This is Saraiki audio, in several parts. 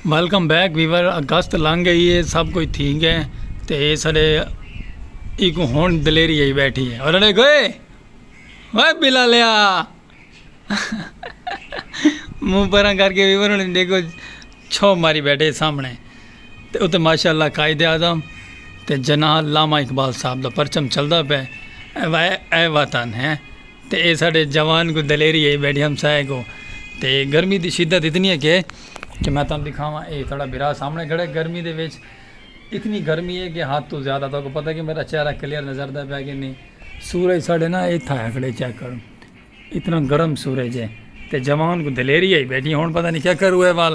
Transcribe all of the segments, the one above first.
ویلکم بیک ویور اگست لنگ گئی ہے سب کوئی تھی گئے تے اے سارے ایک ہون دلیری ہی بیٹھی ہے اور انہیں گئے وے بلا لیا منہ پران کر کے ویور انہیں دیکھو چھو ماری بیٹھے سامنے تے اتے ماشاءاللہ قائد اعظم تے جناح لاما اقبال صاحب دا پرچم چلدا پے اے وطن ہے تے اے ساڈے جوان کوں دلیری ہئی بیٹھی ہمسائے کوں تے گرمی دی شدت اتنی ہے کہ کہ میں تانوں دکھاواں اے ساڈا بھرا سامنے کھڑا ہے گرمی دے وچ اتنی گرمی ہے کہ حد توں زیادہ تہاکوں پتہ ہے کہ میرا چہرہ کلیئر نظر آندا پیا کہ نی سورج ساڈے نا ایتھے آیا کھڑا ہے چیک کرو اتنا گرم سورج ہے تے جوان کوں دلیری ہئی بیٹھی ہن پتہ نی کیا کروں اے وال۔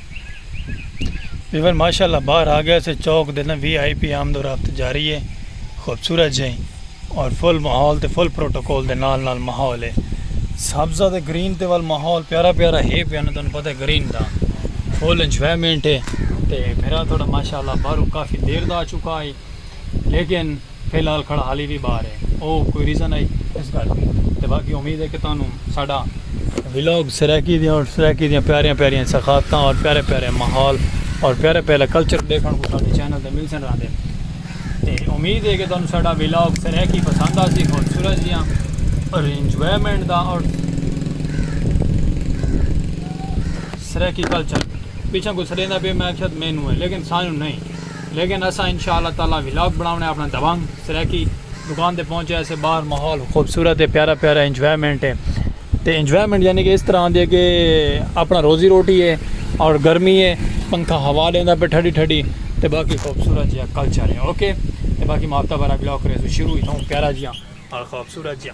ویور ماشاءاللہ باہر آ گیا سے چوک دینا وی آئی پی آمد و رفت جاری ہے خوبصورت جائیں اور فل ماحول تے فل پروٹوکول دے نال نال ماحول ہے سبزہ تے گرین تے وال ماحول پیارا پیارا ہے پیا نا تانوں پتہ ہے گرین دا فل انجوائمنٹ ہے تے پھرا تھوڑا ماشاءاللہ باہروں کافی دیر دا آ چکا ہے لیکن فی الحال کھڑا حالی وی باہر ہے او کوئی ریزن آئی اس گل دی تے باقی امید ہے کہ تانوں ساڈا ولاگ سرائیکی دیاں اور سرائیکی دیاں پیاریاں پیاریاں ثقافتاں اور پیارے پیارے ماحول اور پیارے پیارے کلچر دیکھن کو ساڈے چینل تے مل سن راندے تے امید ہے کہ تانوں ساڈا ولاگ سرائیکی پسند آ سی اور سورج دیاں اور انجوائمنٹ دا اور سرائیکی کلچر پیچھے کو سڑیندا پہ میں شاید مینوں ہے لیکن سانوں نہیں لیکن اساں انشاء اللہ تعالی ولاگ بناونے اپنا دبنگ سرائیکی دکان تے پہنچے اسے باہر ماحول خوبصورت ہے پیارا پیارا انجوائمنٹ ہے تے انجوائمنٹ یعنی کہ اس طرح آندی ہے کہ اپنا روزی روٹی ہے اور گرمی ہے پنکھا ہوا لیندا پہ ٹھڈی ٹھڈی تے باقی خوبصورت جیا کلچر ہے اوکے تے باقی ماپتا برا ولاگ کرے شروع ہی تھا پیارا جیا اور خوبصورت جیا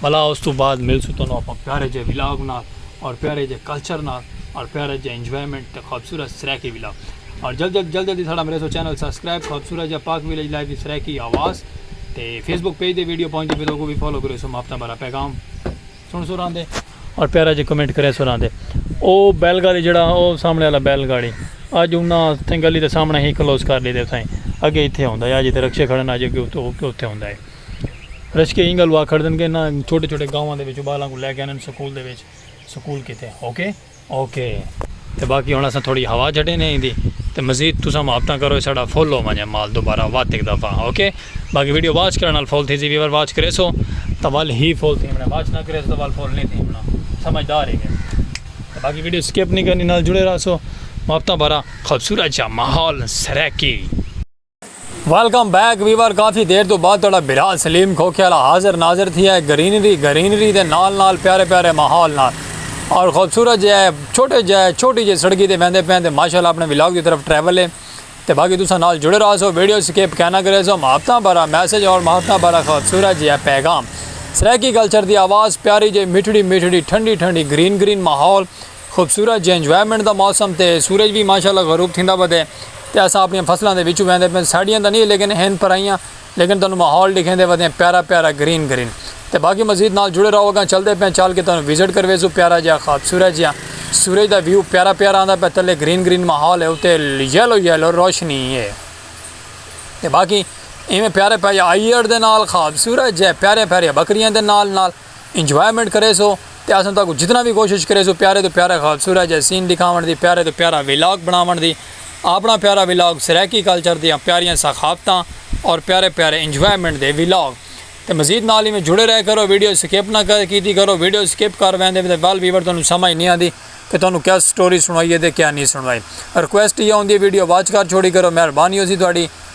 بھلا اس توں بعد ملسوں تانوں اپاں پیارے جئے ولاگ نال اور پیارے جئے کلچر نال اور پیارے جئے انجوائمنٹ تے خوبصورت سرائیکی ولاگ اور جلد جلد جلد جلد ساڑا مریسو چینل سبسکرائب خوبصورت جئے پاک ویلیج لائف دی سرائیکی آواز تے فیس بک پیج دے ویڈیو پہنچ دے پھر کو بھی فالو کریسو ماپتہ بھرا پیغام سن سو راندے اور پیارے جئے کمنٹ کرے سو راندے او بیل گاڑی جڑا او سامنے والا بیل گاڑی آج انہاں تھیں گلی دے سامنے ہی کلوز کر لی دے تھیں اگے ہی تھے ہوندہ ہے آج ہی تھے رکشے کھڑن آج ہی تھے ہوندہ ہے رشکے اینگل وا کھڑدن کے نا چھوٹے چھوٹے گاواں دے وچوں بالاں کو لے کے انن سکول دے وچ سکول کیتے اوکے اوکے تے باقی ہن اساں تھوڑی ہوا جھڈے نے ایندی تے مزید تساں محبتاں کرو ساڈا فل ہو ونجے مال دوبارہ وات ہک دفعہ اوکے باقی ویڈیو واچ کرن نال فل تھی سی ویور واچ کریسو تاں ول ہی فل تھی ونجے واچ نہ کریسو تاں ول فل نی تھی ونجے سمجھدار ہی گے تے باقی ویڈیو سکپ نی کرنی نال جڑے رہسو محبتاں بھرا خوبصورت جا ماحول سرائیکی۔ ویلکم بیک ویور کافی دیر تو بعد تھوڑا بھرا سلیم کھوکھے والا حاضر ناظر تھی ہے گرینری گرینری دے نال نال پیارے پیارے ماحول نال اور خوبصورت جے ہے چھوٹے جے ہے چھوٹی جے سڑکی دے ویندے پین تے ماشاءاللہ اپنے ولاگ دی طرف ٹریول ہے تے باقی تساں نال جڑے رہا سو ویڈیو سکپ کہنا کرے سو محبتاں بھرا میسج اور محبتاں بھرا خوبصورت جے ہے پیغام سرائیکی کلچر دی آواز پیاری جے میٹھڑی میٹھڑی ٹھنڈی ٹھنڈی گرین گرین ماحول خوبصورت جے انجوائمنٹ دا موسم تے سورج وی ماشاءاللہ غروب تھیندا ودے تے اساں اپݨیاں فصلاں دے وچوں ویندے پئیں ساݙیاں تاں نی لیکن ہن پرائیاں لیکن تانوں ماحول ݙیکھیندے ودیاں پیارا پیارا گرین گرین تے باقی مزید نال جڑے رہو اگاں چلدے پئیں چل کے تانوں وزٹ کرویسوں پیارا جیہا خوبصورت جیہا سورج دا ویو پیارا پیارا آندا پئے تلے گرین گرین ماحول ہے اتے یلو یلو روشنی ہے تے باقی ایویں پیارے پیارے آئیئر دے نال خوبصورت جے پیاریاں پیاریاں بکریاں دے نال نال انجوائمنٹ کریسو تے اساں تہاکوں جتنا وی کوشش کریسوں پیارے توں پیارا خوبصورت جیہا سین ڈکھاونڑ دی پیارے توں پیارا ولاگ بنڑاونڑ دی آپنڑاں پیارا ولاگ سرائیکی کلچر دیاں پیاریاں ثقافتاں اور پیارے پیارے انجوائمنٹ دے ولاگ تے مزید نال ایویں جڑے رہے کرو ویڈیو سکپ نہ کیتی کرو ویڈیو سکپ کر ویندے تے ول ویور تہانوں سمجھ نی آندی کہ تہانوں کیا سٹوری سنڑائیے تے کیا نی سنڑائی ریکویسٹ ایہا ہوندی ہے ویڈیو واچ کر چھوڑی کرو مہربانی ہوسی تہاڈی۔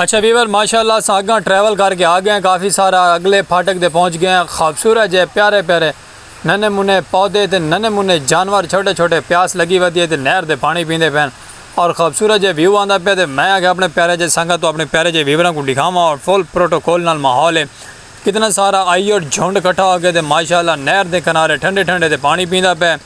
اچھا ویور ماشاء اللہ اساں اگاں ٹریول کر کے آ گئے کافی سارا اگلے پھاٹک تے پہنچ گئے آں خوبصورت جے پیارے پیارے ننے منے پودے تے ننے منے جانور چھوٹے چھوٹے پیاس لگی ودی ہے تے نہر دے پانی پیندے پئے ہن اور خوبصورت جے ویو آندا پئے تے میں آکھیا اپنے پیارے جے سنگت توں اپنے پیارے جے ویوراں کوں ڈکھاواں اور فل پروٹوکول نال ماحول ہے کتنا سارا آئی اور جھنڈ کٹھا ہو کے تے ماشاء اللہ نہر دے کنارے ٹھنڈے ٹھنڈے تے پانی پیندا پئے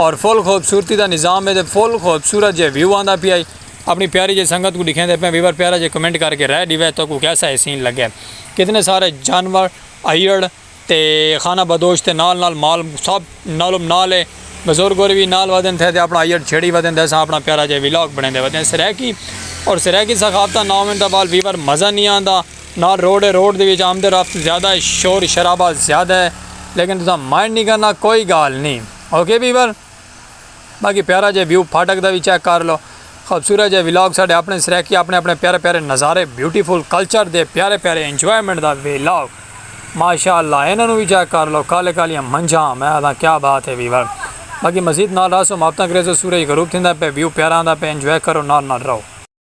اور فل خوبصورتی دا نظام ہے تے فل خوبصورت جے ویو آندا پیا ہے۔ اپݨی پیاری جئی سنگت کوں ݙکھیندے پئیں ویور پیارا جئے کمنٹ کر کے رائے ݙیوے تہاکوں کیسا اے سین لڳے کتنے سارے جانور ائیڑ تے خانہ بدوش تے نال نال مال سب نالم نال اے بزرگ ہور وی نال ودھن تھے تے اپݨا ائیڑ چھیڑی ودھن تے اساں اپݨا پیارا جئے ولاگ بݨیندے ودھے سرائیکی اور سرائیکی ثقافتاں نہ ہوون تاں وال ویور مزہ نی آندا نال روڈ اے روڈ دے وچ آمد و رفت زیادہ اے شور شرابہ زیادہ اے لیکن تساں مائنڈ نی کرنا کوئی گالھ نی اوکے ویور۔ باقی پیارا جیہا ویو پھاٹک دا وی چیک کر لو خوبصورت جیہا ولاگ ساڈے اپنے سرائیکی اپنے اپنے پیارے پیارے نظارے بیوٹیفل کلچر دے پیارے پیارے انجوائمنٹ دا ولاگ ماشاءاللہ انہاں نو وی چیک کر لو کالے کالیاں منجھاں میں آدھاں کیا بات ہے ویور باقی مزید نال رہسو محبتاں کریسو سورج غروب تھیندا پے ویو پیارا آندا پے انجوائے کرو نال نال رہو۔